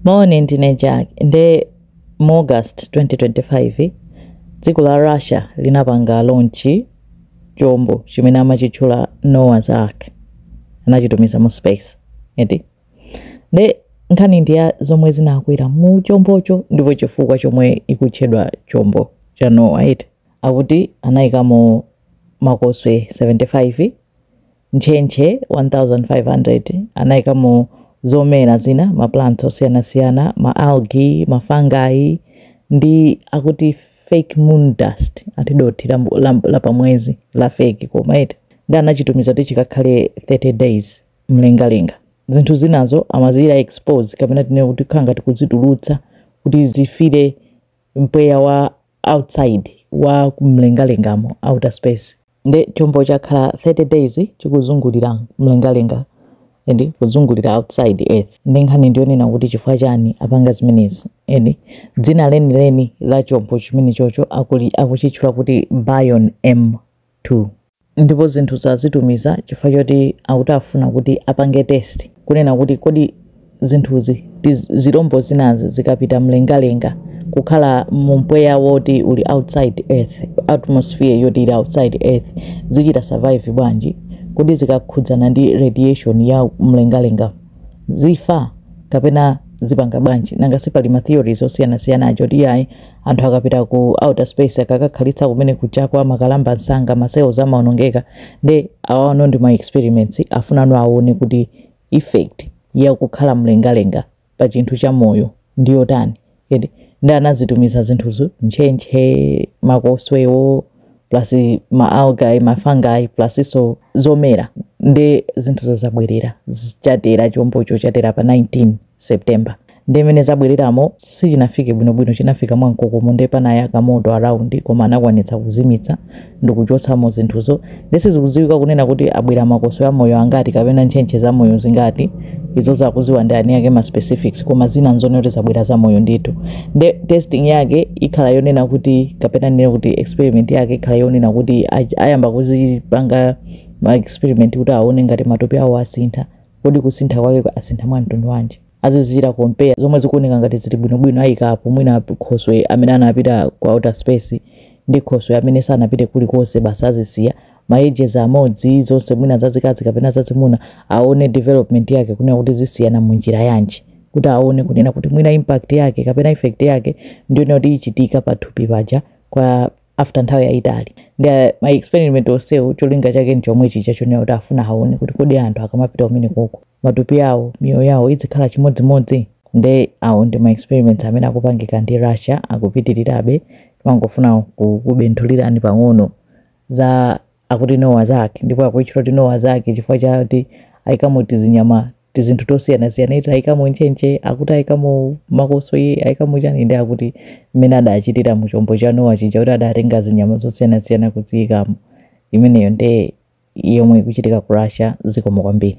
Moni ndine Jack nde mu August 2025 dziko la Russia linapanga launch chombo chimene amachitchula Noah's Ark anachitumiza mu space eti nde nkhani ndi ya zomwe zinakwera mu chombocho ndipo chifukwa chomwe ikutchedwa chombo cha Noah eti akuti anayikamo makoswe 75 Ntchentche 1,500 anaikamo zomera zina, ma plants osiyanasiyana, ma algae, ma fungi, ndi akuti fake moon dust, ati dothi la, la, la pamwezi la fake koma eti ndi anachitumiza kuti chikakhale 30 days mlengalenga. Zinthu zinazo amazichita expose kapena tinene kuti kukhala ngati kuzitulutsa kuti zifire mpweya wa outside wa kumlengalengamo outer space. nde chombo chakhala 30 days chikuzungulira mlengalenga eti kuzungulira outside earth ndi nkhani ndiyonena kuti chifukwa chani apanga zimenezi eti dzina lenileni la chombo chimenechocho akuli- akuchitchula kuti bion m2 ndipo zinthuzo azitumiza chifukwa choti akuti afuna kuti apange test kunena kuti kodi zinthuzi, zirombo zinazi zikapita mlengalenga kukhala mu mpweya woti uli outside earth atmosphere yoti ili outside earth zichita survive bwanji kodi zikakhudzana ndi radiation ya mlengalenga zifa kapena zipanga bwanji nanga sipali ma theories osiyanasiyana aja oti iyayi anthu akapita ku outer space akakakhalitsa kumene kuja akumakalamba msanga ma cells amaonongeka nde awano ndi ma experiments afunano aone kuti effect ya kukhala mlengalenga pa chinthu cha moyo ndi yotani eti ndi anazitumiza zinthuzo ntchentche makoswewo plus ma algae ma fungi plus so zomera ndi zinthuzo zabwerera chatera chombocho chatera pa 19 September nde mmene zabwereramo sichinafike bwinobwino chinafika mwamkokomo nde panayaka moto around koma anakwanitsa kuzimitsa ndikuchotsamo zinthuzo nde sizikudziwika kunena kuti abwera makoswe amoyo angati kapena ntchentche zamoyo zingati izozo akuziwa ndi eni ake ma specifics koma zina nzonena kuti zabwera zamoyo ndithu nde testing yake ikhala yonena kuti kapena tinene kuti experiment yake ikhala yonena kuti ayamba kuzipanga ma experiment kuti aone ngati matupi awo asintha Kodi kusintha kwake asintha mwa mtundu wanji? Azizichita compare zomwe zikuoneka ngati zili bwino bwino aika apo mwina khoswe amene anapita ku outer space ndi khoswe amene sanapite kulikonse basi azisiya za ma ages amodzi zonse mwina zazikazi kapena zazimuna aone development yake kunena kuti zisiyana mu njira yanji kuti aone kunena kuti mwina impact yake kapena effect yake ndiyonena kuti ichitika pa thupi paja kwa after nthawi yayitali ndi ah, ma experiment onsewo cholinga chake nchomwe chija chonena kuti afuna aone kuti kodi anthu akamapita kumene koko matupi yawo miyoyo yawo idzikhala chimodzimodzi nde awo ndi ma experiments amene akupangika ndi russia akupitirirabe timangofuna kubenthulirani pang'ono za akuti Noah's Ark ndipo akuitchula kuti Noah's Ark chifukwa chati aikamo tizinyama tizinthu tosiyanasiyana ati aikamo ntchentche akuti aikamo makoswe aikamo chani nde akuti mmene adachitira mu chombo cha Nowa chija kuti adatenga zinyama zosiyanasiyana kuziikamo imeneyo nde yomwe ikuchitika ku Russia zikomo kwambiri